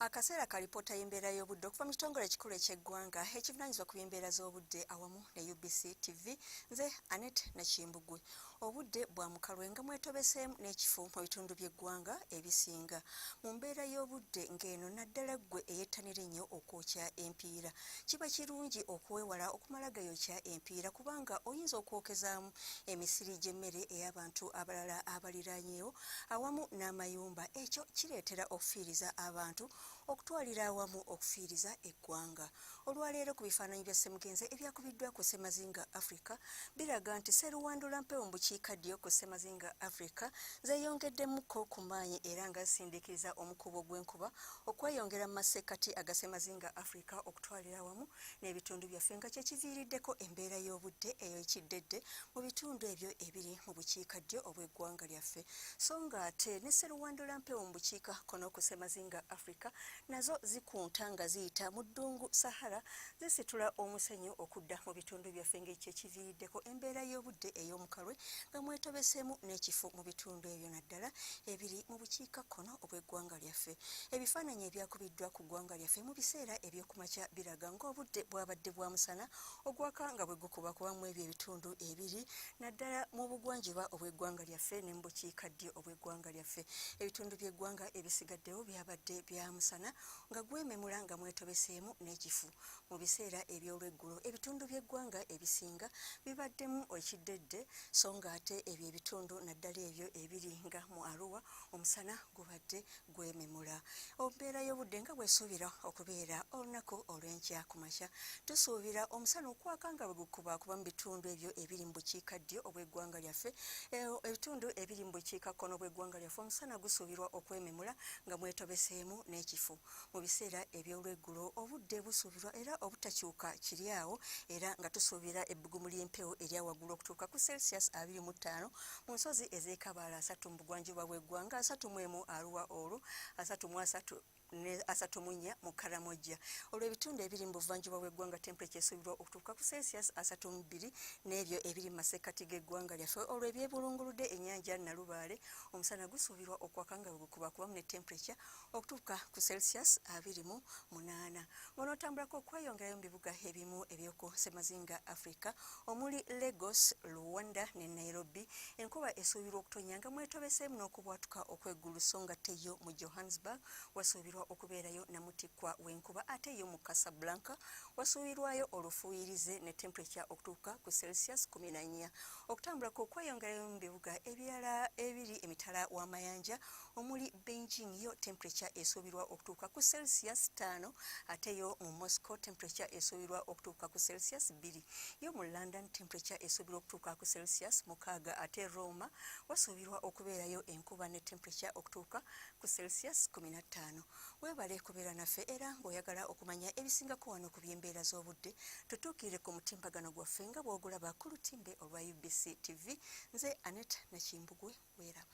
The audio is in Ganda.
akaseera ka lipoota y'embeera y'obudde okuva mu kitongole ekikulu eky'eggwanga ekivunanyizibwa ku by'embeera z'obudde awamu ne ubc tv nze anet nakimbugwe obudde bwa mukalwe nga mwetobeseemu n'ekifo mu bitundu by'eggwanga ebisinga mu mbeera y'obudde ng'eno naddala ggwe eyettanira ennyo okwokya empiira kiba kirungi okuwewala okumala gayokya empiira kubanga oyinza okwokezaamu emisiri gy'emmere ey'abantu abalala abaliranyeewo awamu n'amayumba ekyo kireetera okufiiriza abantu okutwalira awamu okufiiriza eggwanga olwaleero ku bifaananyi bya ssemugenzi ebyakubiddwa ku ssemazinga africa biraga nti seruwandula mpewo mu bukiika ddyo ku ssemazinga africa zeyongeddemuko ku maanyi era nga zisindikiriza omukuubo gw'enkuba okweyongera mu masekkati agasemazinga africa okutwalira awamu n'ebitundu byaffe nga kyekiviiriddeko embeera y'obudde eyoekiddedde mu bitundu ebyo ebiri mu bukiika ddyo obw'eggwanga lyaffe so nga ate ne seruwandula mpewo mu bukiika kono ku semazinga africa nazo zikunta nga ziyita mu ddungu sahara zisitula omusenyu okudda mu bitundu byaffe nga ekyekiviiriddeko embeera y'obudde ey'omukalwe nga mwetobeseemu n'ekifo mu bitundu ebyo naddala ebiri mu bukiika kkono obw'eggwanga lyaffe. Ebifaananyi ebyakubiddwa ku ggwanga lyaffe mu biseera eby'okumakya biraga ng'obudde bwabadde bwa musana ogwaka nga bwe gukubakuba mu ebyo ebitundu ebiri naddala mu bugwanjuba obw'eggwanga lyaffe ne mu bukiikaddyo obw'eggwanga lyaffe. Ebitundu by'eggwanga ebisigaddewo byabadde bya musana nga gwememula nga mwetobeseemu n'ekifu. Mu biseera eby'olweggulo ebitundu by'eggwanga ebisinga bibaddemu ekiddedde so ng'ate ebyo ebitundu naddala ebyo ebiri nga mu Arua omusana gubadde gwememula embeera y'obudde nga bwesuubira okubeera olunaku olw'enkya ku makya tusuubira omusana okwaka nga bwe gukuba kuba mu bitundu ebyo ebiri mu bukiika ddyo obw'eggwanga lyaffe e, ebitundu ebiri mu bukiika kkono obw'eggwanga lyaffe omusana gusuubirwa okwememula nga mwetobeseemu n'ekifuba mu biseera eby'olweggulo obudde busuubirwa era obutakyuka kiri awo era nga tusuubira ebbugumu ly'empewo erya waggulu okutuuka ku celsius 25 mu nsozi ez'ekabaala asatu mu bugwanjuba bw'eggwanga asatu mu emu aruwa olwo asatu mu asatu ne asatu mu nnya mu karamojja olwo ebitundu ebiri mu buvanjuba bw'eggwanga temperature esuubirwa okutuuka ku celsius asatu mu bbiri n'ebyo ebiri mu masekkati g'eggwanga lyaffe olwo ebyebulunguludde ennyanja nalubaale omusana gusuubirwa okwaka nga bwegukubakubamu ne temperature okutuuka ku celsius abiri mu munaana ng'onootambulako okweyongerayo mu bibuga ebimu eby'oku ssemazinga africa omuli lagos luwanda ne nairobi enkuba esuubirwa okutonya nga mwetobeseemu n'okubwatuka okweggulu so nga teyo mu johannesburg wasuubirwa okubeerayo namutikkwa w'enkuba ate yo mu casablanca wasuubirwayo olufuuyirize ne temperature okutuuka ku celsius kumi na nnya okutambulako okweyongerayo mu bibuga ebirala ebiri emitala w'amayanja omuli Beijing yo temperature esuubirwa okutuuka ku Celsius ttaano ate yo mu Moscow temperature esuubirwa okutuuka ku Celsius bbiri yo mu London temperature esuubirwa okutuuka ku Celsius mukaaga ate Roma wasuubirwa okubeerayo enkuba ne temperature okutuuka ku Celsius kkumi na ttaano weebale kubeera naffe era ng'oyagala okumanya ebisingako wano ku by'embeera z'obudde tutuukirire ku mutimbagano gwaffe nga bw'ogulaba ku lutimbe olwa UBC TV nze Aneta Nakimbugwe weeraba